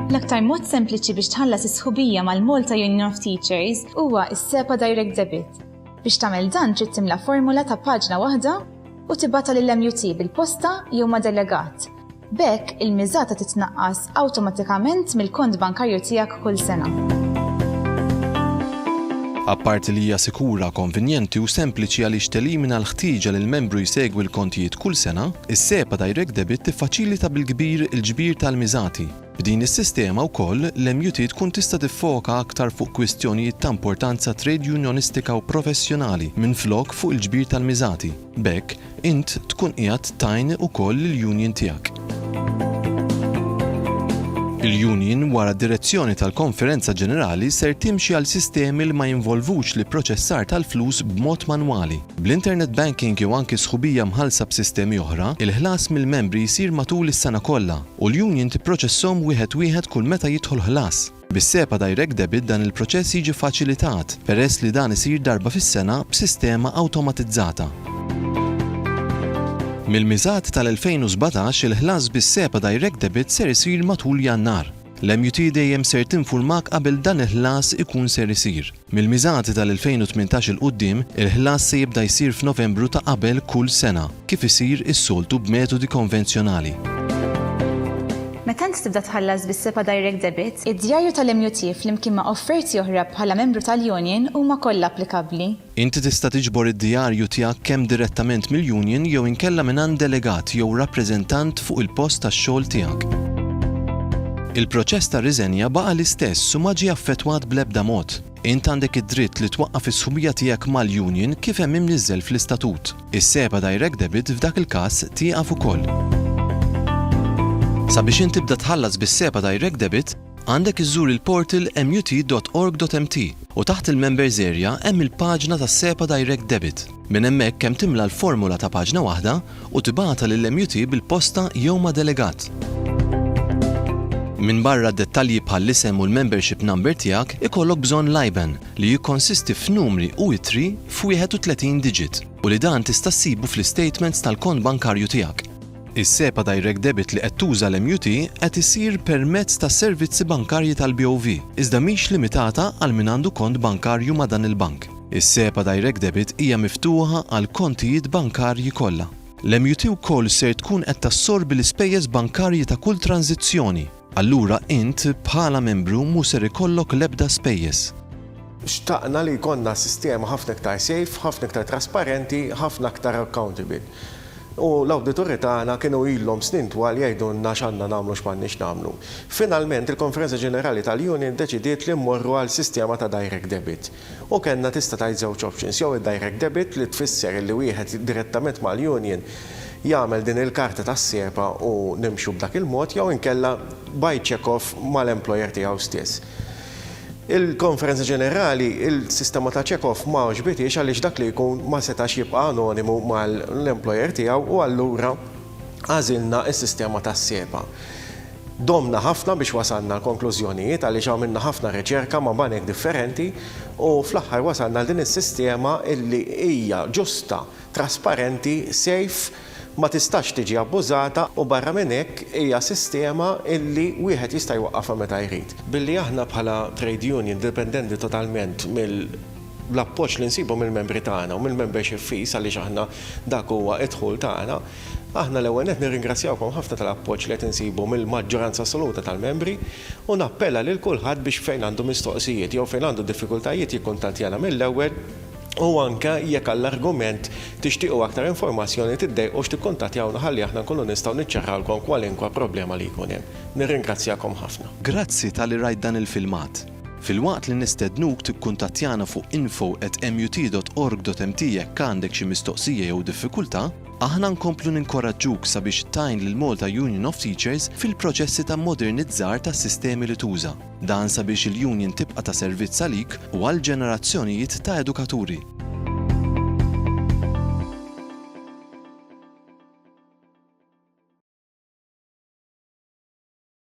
L-aktar mod sempliċi biex tħallas is-sħubija mal-Malta Union of Teachers huwa s-SEPA Direct Debit. Biex tagħmel dan trid timla formula ta' paġna waħda u tibata lill-MUT bil-posta jew ma' delegat B'hekk, il-miżata titnaqqas awtomatikament mill-kont bankarju tiegħek kull sena. Apparti li hija sikura, konvinjenti u sempliċi għaliex telimina l-ħtieġa li l-membru jsegwi l-kontijiet kull sena, is-SEPA Direct Debit tiffaċilita bil-kbir il-ġbir tal-miżati. B'din is-sistema wkoll, l-MUT tkun tista' tiffoka aktar fuq kwistjonijiet ta' importanza trade unjonistika u professjonali minflok fuq il-ġbir tal-miżati. B'hekk, int tkun qiegħed tgħin ukoll lill-union tiegħek. Il-union, wara d-direzzjoni tal-Konferenza Ġenerali, ser timxi għal sistemi li ma jinvolvux l-ipproċessar tal-flus b'mod manwali. Bl-internet banking jew anki sħubija mħallsa b'sistemi oħra, il-ħlas mill-membri jsir matul is-sena kollha, u l-union tipproċesshom wieħed wieħed kull meta jidħol ħlas. Bis-SEPA Direct Debit dan il-proċess jiġi ffaċilitat, peress li dan isir darba fis-sena b'sistema awtomatizzata. Mill-miżat tal-2017 il-ħlas bis-SEPA Direct Debit ser isir matul Jannar. L-MUT dejjem ser tinfurmak qabel dan il-ħlas ikun ser isir. Mill-miżati tal-2018 'il quddiem, il-ħlas se jibda jsir f'Novembru ta' qabel kull sena, kif isir is-soltu b'metodi konvenzjonali. Meta int tibda tħallas bis-SEPA Direct Debit, id-djarju tal-MUT flimkien ma' offerti oħra bħala membru tal-union huma kollha applikabbli. Inti tista' tiġbor id-djarju tiegħek kemm direttament mill-union jew inkella mingħand delegat jew rappreżentant fuq il-post tax-xogħol tiegħek. Il-proċess ta' riżenja baqa' l-istess u ma ġie affettwat bl-ebda mod. Int għandek id-dritt li twaqqaf is-sħubija tiegħek mal-union kif hemm imniżżel fl-istatut. Is-SEPA Direct Debit f'dak il-każ tieqaf ukoll. Sabiex int tibda tħallas bis-SEPA Direct Debit, għandek iżżur il-portal mut.org.mt u taħt il-Members Area hemm il-paġna tas-SEPA Direct Debit. Minn hemmhekk hemm timla l-formola ta' paġna waħda u tibgħatha lill-MUT bil-posta jew ma' delegat. Minbarra dettalji bħall-isem u l-membership number tiegħek, ikollok bżonn l-IBAN, li jikkonsisti f'numri u ittri f'wieħed u tletin diġit, u li dan tista' ssibu fl-istatements tal-kont bankarju tiegħek. Is-SEPA Direct Debit li qed tuża l-MUT qed isir permezz tas-servizzi bankarji tal-BOV, iżda mhix limitata għal min għandu kont bankarju ma' dan il-bank. Is-SEPA Direct Debit hija miftuħa għall-kontijiet bankarji kollha. L-MUT wkoll ser tkun qed tassorbi l-ispejjeż bankarji ta' kull tranżizzjoni. Allura int, bħala membru, mhu ser ikollok l-ebda spejjeż. Xtaqna li jkollna sistema ħafna iktar safe, ħafna iktar trasparenti, ħafna aktar accountable. U l-awdituri tagħna kienu ilhom snin twal jgħidulna x'għandna nagħmlu u x'm'għandniex nagħmlu. Finalment, il-Konferenza Ġenerali tal-Union ddeċidiet li mmorru għal sistema ta' direct debit. U kellna tista' tgħid żewġ options, jew id-direct debit li tfisser illi wieħed direttament mal-union jagħmel din il-karta tas-siepa u nimxu b'dak il-mod jew inkella by check off mal-employer tiegħu stess. Il-Konferenza Ġenerali l-sistema ta' check off ma għoġbitiex għaliex dak li jkun ma setax jibqa' anonimu mal-employer tiegħu u allura għażilna s-sistema tas-siepa. Domna ħafna biex wasalna għal konklużjonijiet għaliex għamilna ħafna riċerka ma' banek differenti u fl-aħħar wasalna għal din is-sistema illi hija ġusta, trasparenti, safe, ma tistax tiġi abbużata u barra minn hekk hija sistema illi wieħed jista' jwaqqafha meta jrid. Billi aħna bħala trade union dipendenti totalment mill-appoġġ li nsibu mill-membri tagħna u mill-membership fees għaliex aħna dak huwa d-dħul tagħna, Aħna l-ewwel nett nirringrazzjawkom ħafna tal-appoġġ li qed insibu mill-maġġoranza assoluta tal-membri u nappella lil kulħadd biex fejn għandu mistoqsijiet jew fejn għandu diffikultajiet jikkuntattjana mill-ewwel u anke jekk għal argument tixtiequ aktar informazzjoni tiddejqux tikkuntattjawna ħalli aħna nkunu nistgħu niċċarrawlkom kwalinkwa problema li jkun hemm. Nirringrazzjakom ħafna. Grazzi talli rajt dan il-filmat. Filwaqt li nistednuk tikkuntattjana fuq info@mut.org.mt jekk għandek xi mistoqsija jew diffikultà, Aħna nkomplu ninkoraġġuk sabiex tgħin lill-Malta Union of Teachers fil-proċessi ta' mmodernizzar tas-sistemi li tuża. Dan sabiex il-Union tibqa' ta' servizz għalik u għal ġenerazzjonijiet ta' edukaturi.